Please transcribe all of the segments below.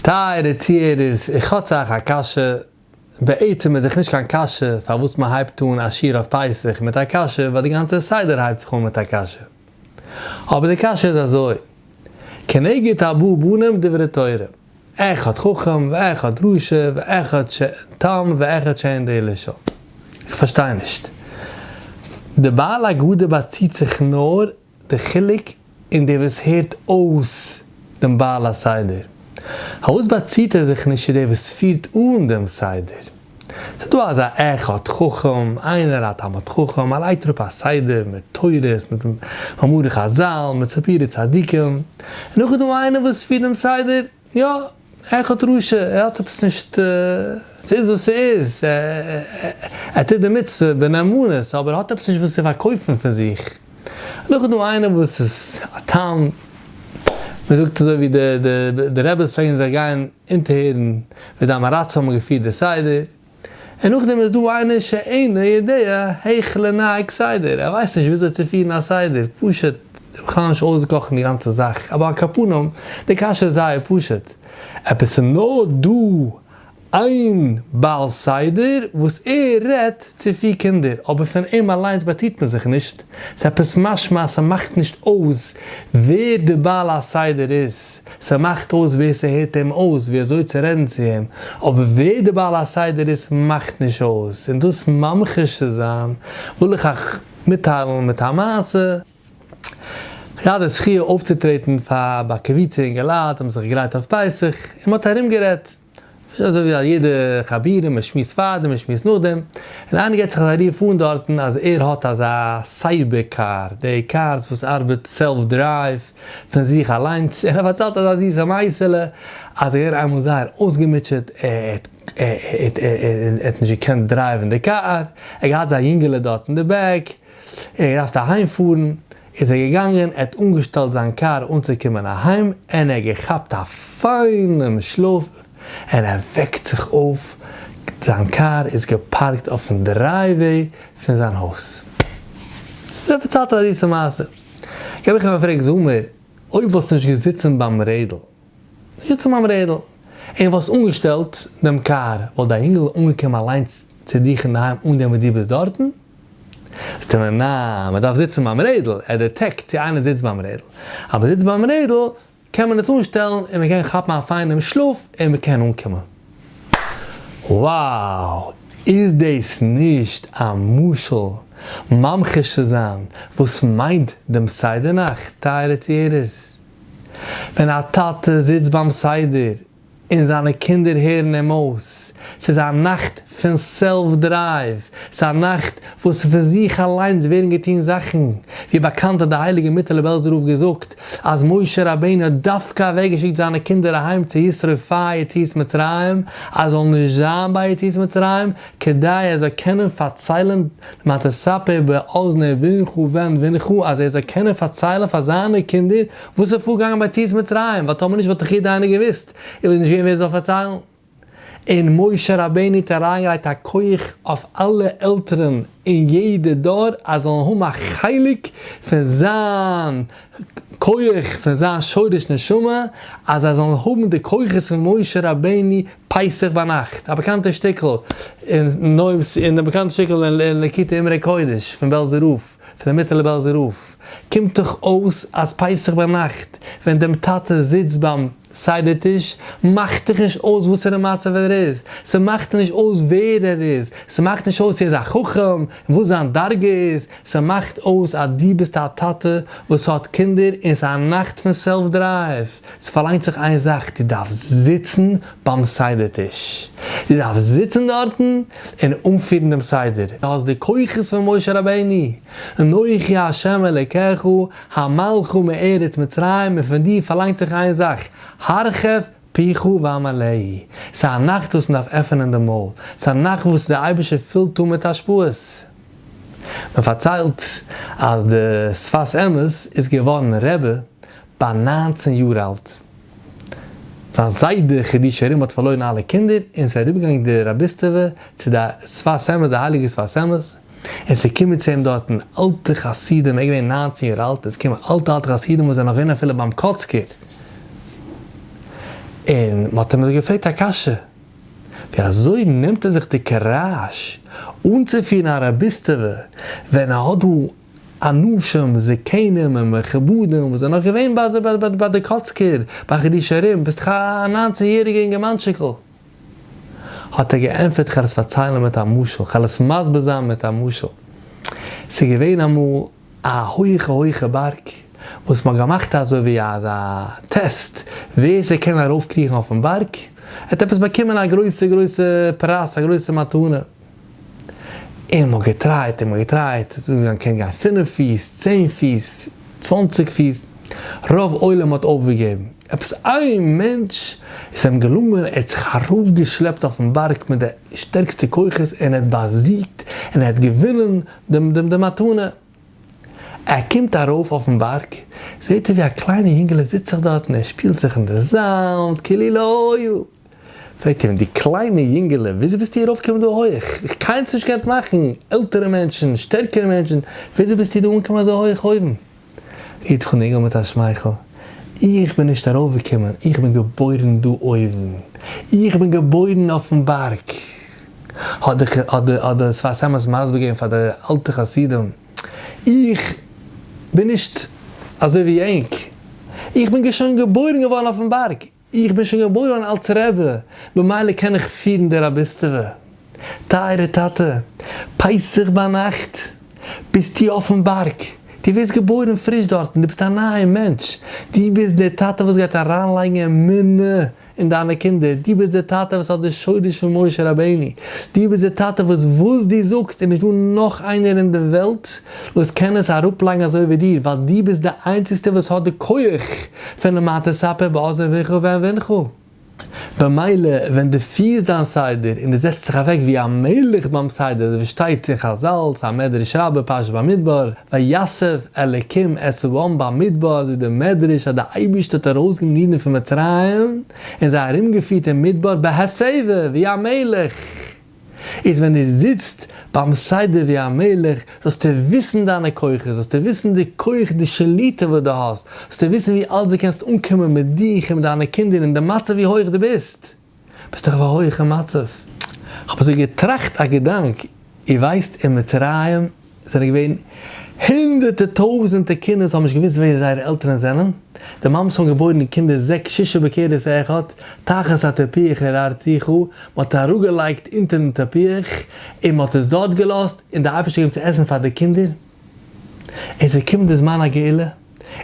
טייערע צוהערערס, איך האט אייך א קשיא, בעצם איז דאך נישט קיין קשיא פארוואס מען הייבט אן א שיעור אויף פסח מיט א קשיא, ווייל די גאנצע סדר הייבט זיך אן מיט א קשיא. אבער די קשיא איז אזוי, כנגד הבא בנים דברי תורה, אחד חכם ואחד רשע ואחד שאין תם ואחד שאין דעה לשאול. איך פארשטיי נישט. די בעל הגדה באציט זיך נאר די חילוק אין דער וואס הערט אויס דעם בעל הסדר, פארוואס באציט ער זיך נישט צו דער וואס פירט אן דעם סדר? ס'איז דא אזא אחד חכם, איינער א תלמיד חכם, ער לייגט אראפ א סדר מיט תורות, מיט מאמרי חזל, מיט סיפורי צדיקים, און נאך איז דא איינער וואס פירט דעם סדר, יא, ער האט רשע, ער האט עפעס נישט, ס'איז וואס ס'איז, ער טוט די מצוה בנאמנות, אבער ער האט עפעס נישט וואס צו פארקויפן פון זיך. נאך איז דא איינער וואס איז א תם, מען זאגט אזוי ווי די רעבעס פלעגן זיך גיין אונטערהערן ווי די אמאראצען האבן געפירט די סדר, און נאכדעם איז דא איינער שאינו יודע היכ ל נהג סדר, ער ווייסט נישט וויאזוי צו פירן א סדר, פשוט בכלל נישט אויסגעקאכט אין די גאנצע זאך, אבער על כף פנים, די קשיא איז זייער פשוט, אויב עס איז נאר דא איין בעל סדר וואס ער רעדט צו פיר קינדער אבער פון אים אליינס באציהט מען זיך נישט, איז עפעס משמע אז ס'מאכט נישט אויס ווער די בעל הסדר איז, ס'מאכט אויס ווער ס'הערט אים אויס ווי אזוי צו רעדן צו אים, אבער ווער די בעל הסדר איז מאכט נישט אויס, און דאס ממחיש צו זיין וויל איך אייך מיטטיילן מיט א מעשה. איך געהאט די זכיה אויפצוטרעטן פאר א קבוצה אינגעלייט וואס האבן זיך געגרייט אויף פסח, און מ'האט ארומגערעדט ס'איז אזוי ווי א יעדע חבירים מען שמועסט פארדעם מען שמועסט נאכדעם, און איינער געט זיך אזא רוף אן דארטן אז ער האט אזא סייבער קאר, די קארס וואס ארבעט סעלף דרייוו פון זיך אליינס, און ער פארציילט אזא זיסע מייסעלע אז ער איז געווען איינמאל זייער אויסגעמוטשעט ער האט נישט געקענט דרייווען די קאר, ער האט געהאט זיין יונגעלע דארט אין די בעק, ער האט געדארפט אהיים פארן, איז ער געגאנגען, ער האט אנגעשטעלט זיין קאר אנצוקומען אהיים, און ער האט געכאפט א פיינעם שלאף, און ער וועקט זיך אויף, זיין קאר איז געפארקט אויפן דרייוועי פון זיין הויז. דער פארציילט א זיסע מעשה, איך האב איהם געפרעגט, זאג מיר, אויב וואלסטו נישט געזיצן ביים רעדל, נישט געזיצן ביים רעדל, און וואלסט אנגעשטעלט דעם קאר, וואלט דער אינגל אנגעקומען אליינס צו דיך אינדערהיים אן דעם וואס דו ביסט דארטן? זאגט ער מיר נע, מען דארף זיצן ביים רעדל, ער דעטעקט צו איינער זיצט ביים רעדל, אז מען זיצט ביים רעדל קען מען עס אנשטעלן און מען קען כאפן א פיינעם שלאף און מען קען אנקומען. wow! איז דאס נישט א משל ממחיש צו זיין וואס מיינט דעם סדר נאך טייערע צוהערערס? ווען א טאטע זיצט ביים סדר און זיינע קינדער הערן אים אויס. ס'איז א נאכט פון סעלף דרייוו. ס'איז א נאכט וואס פון זיך אליינס ווערן געטון זאכן. ווי באקאנט האט די הייליגע מיטעלע בעלזער רב געזאגט אז משה רבינו האט דווקא אוועקגעשיקט זיינע קינדער אהיים צו ישרף פאר יציאת מצרים אז זאל נישט זיין ביי יציאת מצרים כדי ער זאל קענען פארציילן מה תספר באזני בנך ובן בנך אז ער זאל קענען פארציילן פאר זיינע קינדער וואס איז פארגאנגען ביי ציאת מצרים, ווייל טאמער נישט וואלט איך יעדע איינער געוואוסט, און וואלט נישט געווען ווער עס זאל פארציילן. און משה רבינו האט אריינגעלייגט א כח אויף אלע עלטערן אין יעדע דור אז זאלן האבן א חלק פון זיין כח פון זיין שורש נשמה, אז זיי זאלן האבן די כוחות פון משה רבינו פסח ביינאכט, א באקאנטע שטיקל אין די באקאנטע שטיקל אין ליקוטי אמרי קודש פון בעלזער רב, פון די מיטעלע בעלזער רב. קומט דאך אויס אז פסח ביינאכט ווען דעם טאטע זיצט ביים סדר טיש מאכט דאך נישט אויס וואסערע מצב ער איז, ס'מאכט נישט אויס ווער ער איז, ס'מאכט נישט אויס ער איז א חכם און וואס זיין דרגה איז, ס'מאכט אויס אז דו ביסט א טאטע וואס האט קינדער און ס'איז א נאכט פון סעלף דרייוו, ס'פארלאנגט זיך איין זאך דו דארפסט זיצן ביים סדר טיש, דו דארפסט זיצן דארטן און אנפירן דעם סדר, דו האסט די כוחות פון משה רבינו, אנכי השם אלקיך המלכה מארץ מצרים און פון דיר פארלאנגט זיך איין זאך, הרחב פיך ואמלאי, ס'איז א נאכט וואס מען דארף עפענען די מויל, ס'איז א נאכט וואס דער אייבערשטער פילט אן מיט השפעות. מען פארציילט אז דער שפת אמת איז געווארן רבי ביי ניינצן יאר אלט, זיין זיידע חידוש הרים האט פארלוירן אלע קינדער און ס'איז אראפגעגאנגען די רביסטעווע צו די שפת אמת, די הייליגע שפת אמת, עס איז געקומען צו אים דארטן אלטע חסידים, ער איז געווען ניינצן יאר אלט, עס איז געקומען אלטע אלטע חסידים וואס זענען נאך געווען אפילו ביים קאצקער, און מען האט אים אזוי געפרעגט א קשיא, ווי אזוי נעמט ער זיך די קוראזש אנצופירן א רביסטעווע, ווען ער האט דא אנשים זקנים און מכובדים וואס זענען נאך געווען ביי די קאצקער, ביי חידושי הרי ם, ביסט דאך א ניינצן יעריגע אינגערמאנטשיקל. האט ער געענטפערט כ'על עס פארציילן מיט א משל, כ'על עס מסביר זיין מיט א משל. ס'איז געווען אמאל א הויכע הויכע בארג, וואס מ'האט געמאכט אזוי ווי אזא טעסט, ווער ס'קען ארויף קריכן אויפן בארג, ער האט עפעס באקומען א גרויסע גרויסע פרס, א גרויסע מתנה. און מ'האט געטרייט און מ'געטרייט, ס'איז אנגעגאנגען קען גיין פינף פיס, צען פיס, צוואנציג פיס, רוב עולם האט אויפגעגעבן, עפעס איין מענטש איז אים געלונגען, ער האט זיך ארויפגעשלעפט אויפן בארג מיט די שטערקסטע כוחות און ער האט באזיגט און ער האט געווינען די מתנה. ער קומט ארויף אויפן בארג, זעט ער ווי א קליינע יונגעלע זיצט זיך דארט און ער שפילט זיך אין די זאמד כאילו לא היה. פרעגט אים די קליינע יונגעלע, וויאזוי ביסטו ארויף געקומען דא הויעך? איך קיינמאל נישט געקענט מאכן, עלטערע מענטשן, שטערקערע מענטשן, וויאזוי ביסטו דא אנגעקומען אזוי הויעך אויבן? גיבט זיך אן אינגעל מיט א שמייכל, איך בין נישט ארויף געקומען, איך בין געבוירן דא אויבן, איך בין געבוירן אויפן בארג! האט דער שפת אמת מסביר געווען פאר די אלטע חסידים, איך בין נישט אזוי ווי ענק, איך בין שוין געבוירן געווארן אויפן בארג, איך בין שוין געבוירן אלס רעבע, במילא קען איך פירן די רביסטעווע. טייערע טאטע, פסח ביינאכט ביסטו אויפן בארג, דו ווערסט געבוירן פריש דארטן, דו ביסט א נייער מענטש, דו ביסט דער טאטע וואס גייט אריינלייגן אמונה אין דיינע קינדער, דו ביסט דער טאטע וואס האט די שורש פון משה רבינו, דו ביסט דער טאטע וואס וואס דו זאגסט איז נישט דא נאך איינער אין די וועלט וואס קען עס אראפלייגן אזוי ווי דיר, ווייל דו ביסט די איינציגסטער וואס האט די כח פון למטה ספר באזור ויחו ואין ונחו. במילא ווען דו פירסט דיין סדר און דו זעצט זיך אוועק ווי א מלך ביים סדר אזוי ווי שטייט אין חזל, סא מדרש רבה פרשת במדבר, ויסב אלקים את צבאם במדבר זאגט די מדרש אז די אייבערשטער האט ארויסגענומען אידן פון מצרים און זיי ארומגעפירט אין מדבר בהסבה ווי א מלך. איז ווען דו זיצט ביים סדר ווי א מלך זאלסטו וויסן דיינע כוחות, זאלסטו וויסן די כח די שליטה וואס דו האסט, זאלסטו וויסן ווי אלץ דו קענסט אנקומען מיט דיך און מיט דיינע קינדער און די מצב ווי הויך דו ביסט, ביסט דאך אויף א הויכע מצב. כ'האב אזוי געטראכט א געדאנק, איר ווייסט אין מצרים עס זענען געווען הונדערטע טויזענטע קינדער וואס האבן נישט געוואוסט ווער זייערע עלטערן זענען, די מאמעס האבן געבוירן די קינדער זעקס שישה בקערעס אחד, תחת הטפיח הרהרתיחו, מען האט עס אראפגעלייגט אונטער דעם טפיח און מען האט עס דארט געלאזט, און די אייבערשטער געבן צו עסן פאר די קינדער, און עס איז געקומען די זמן הגאולה,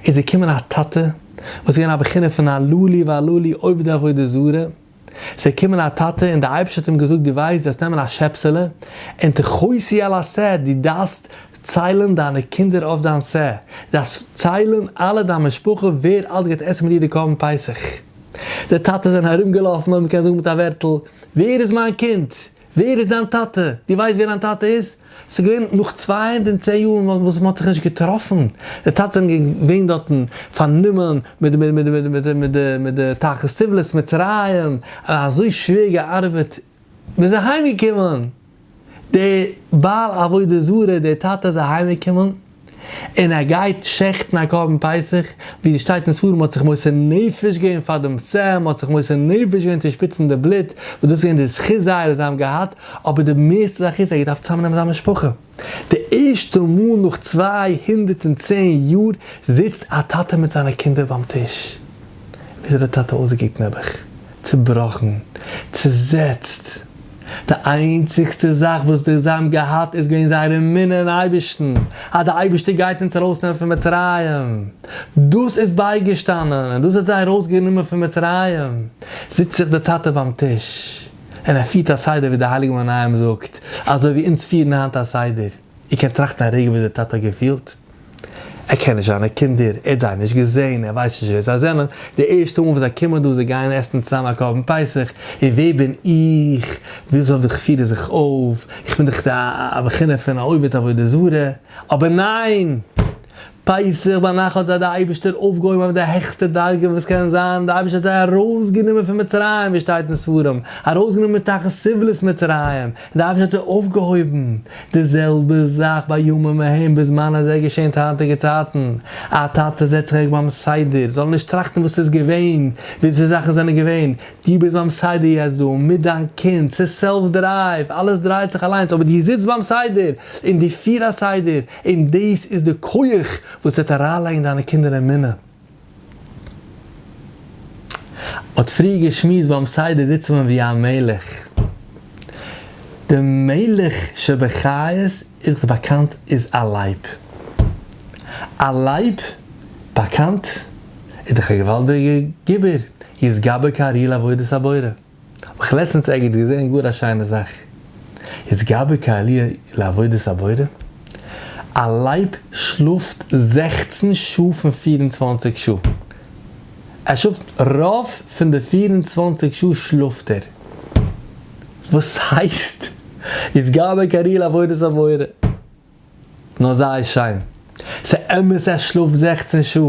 איז געקומען א טאטע וואס איז געווען א בחינה פון א לא לי ולא לי עובדי עבודה זרה, ס'איז געקומען א טאטע און די אייבערשטער האט אים געזאגט דו ווייסט וועסט נעמען א שעפסעלע און תחוסי על הסאה דו דארפסט ציילען דיינע קינדער אויף דיין סאה דו דארפסט ציילען אלע דיין משפחה ווער אלץ גייט עסן מיט דיר די קרבן פסח די טאטעס זענען ארום געלאפן אויב מ'קען זאגן מיט א ווערטל ווער איז מיין קינד ווער איז דיין טאטע? דו ווייסט ווער דיין טאטע איז? ס'איז געווען נאך צוויי הונדערט און צען יארן וואס מען האט זיך נישט געטראפן, די טאטעס זענען געווען דארטן פארנומען מיט די תחת סבלת מצרים, אזוי שווער געארבעט, מען איז אהיימגעקומען, דער בעל עבודה זרה, דער טאטע איז אהיימגעקומען, און ער גייט שעכטן א קרבן פסח, ווי עס שטייט אין ספרים האט זיך מוסר נפש געווען פאר דעם ס ה, מ'האט זיך מוסר נפש געווען צו שפיצן די בלוט, וואס דאס איז געווען די זכות זייערע זיי האבן געהאט, אבער די מערסטע זאך איז ער האט געדארפט צוזאמנעמען זיין משפחה, די ערשטע מאל נאך צוויי הונדערט און צען יאר זיצט א טאטע מיט זיינע קינדער ביים טיש, ווי אזוי האט די טאטע אויסגעקוקט נעבעך? צובראכן, צוזעצט. די איינציגסטע זאך וואס די זיי האבן געהאט איז געווען זייער אמונה אין אייבערשטן, אז די אייבערשטער גייט אונז ארויסנעמען פון מצרים, דאס איז בייגעשטאנען און דאס האט זיי ארויסגענומען פון מצרים, זיצט זיך די טאטע ביים טיש און ער פירט א סדר ווי די הייליגע מנין זאגט, אזוי ווי אונז פירן היינט א סדר. איר קענט טראכטן א רגע ווי אזוי די טאטע האט געפילט. ער קען נישט זיינע קינדער, ער האט זיי נישט געזען, ער ווייסט נישט ווער זיי זענען, די ערשטע מאל וואס זיי קומען דא, זיי גייען עסן צוזאם א קרבן פסח, און ווער בין איך, ווי אזוי וואלט איך פירן זיך אויף, איך בין דאך א בחינה פון א עובד עבודה זרה, אבער ניין! פסח ביינאכט האט זיי די אייבישטער אויפגעהויבן אויף די העכסטע דרגה וואס קען זיין, די אייבישטער האט זיי ארויסגענומען פון מצרים ווי שטייט אין ספרים, ארויסגענומען מתחת סבלות מצרים, און די אייבישטער האט זיי אויפגעהויבן, די זעלבע זאך בימים ההם בזמן הזה געשענט היינטיגע צייטן, א טאטע זעצט זיך אוועק ביים סדר, זאל ער נישט טראכטן וואס איז געווען, וויאזוי זאכן זענען געווען, דו ביסט ביים סדר יעצט דא מיט דיין קינד, ס'איז סעלף דרייוו, אלעס דרייט זיך אליינס, אבער דו זיצט ביים סדר און דו פיר א סדר, און דאס איז די כח וואס וועט אריינלייגן דיינע קינדער אין אמונה. מ'האט פריער געשמועסט ביים סדר זיצט מען ווי א מלך. די מלך שבחיות איז דאך באקאנט איז א לייב. א לייב באקאנט איז דאך א געוואלדיגע גיבור, יתגבר כארי לעבודת הבורא. האב איך לעצטנס ערגעץ געזען גאר א שיינע זאך, איז געבער כעליה לעבודת הבורא? א לייב שלאפט זעכצן שעה פון פֿיר און צוואַנציק שעה, ער שלאפט רוב פון די פֿיר און צוואַנציק שעה שלאפט ער, וואס הייסט איז געבער כעליה לעבודת הבורא? נאר זייער שיין, ס'אמת ער שלאפט זעכצן שעה,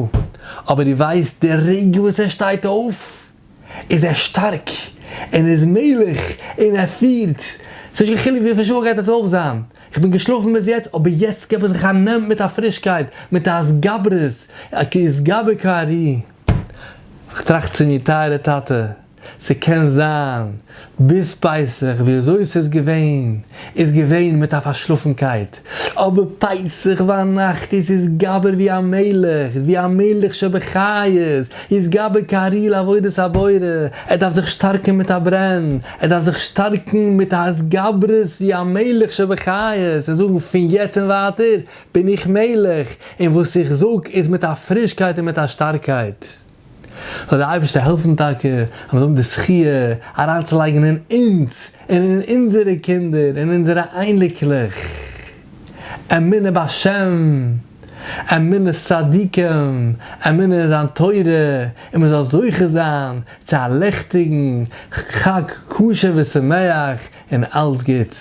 אבער דו ווייסט די רגע וואס ער שטייט אויף? איז ער שטארק און איז מלך און ער פירט, ס'איז נישט קיין חילוק וויפיל שעה גייט עס אויף זיין, איך בין געשלאפן ביז יעצט אבער יעצט געב איך זיך א נעם מיט א פרישקייט, מיט א התגברות, א כי ישגבו כי ארי'. איך טראכט צו מיר, טייערע טאטע, ס'קען זיין ביז פסח וויאזוי ס'איז געווען איז געווען מיט א פארשלאפנקייט, אבער פסח וויינאכט איז איזגבר ווי א מלך, ווי א מלך שבחיות, איזגבר קריא לעבודת הבורא, ער דארף זיך שטארקן מיט א ברען, ער דארף זיך שטארקן מיט א התגברות ווי א מלך שבחיות, און זאגן פון יעצט און ווייטער בין איך מלך, און וואס איך זאג איז מיט א פרישקייט און מיט א שטארקייט. זאל דער אייבערשטער העלפן טאקע אז מיר זאלן האבן די זכי' אריינצולייגן אין אונז און אין אונזערע קינדער און אונזערע אייניקלעך אמונה בהשם, אמונת צדיקים, אמונה אין זיין תורה, און מען זאל זוכה זיין צו א לעכטיגן חג כשר ושמח און אלץ גוטס.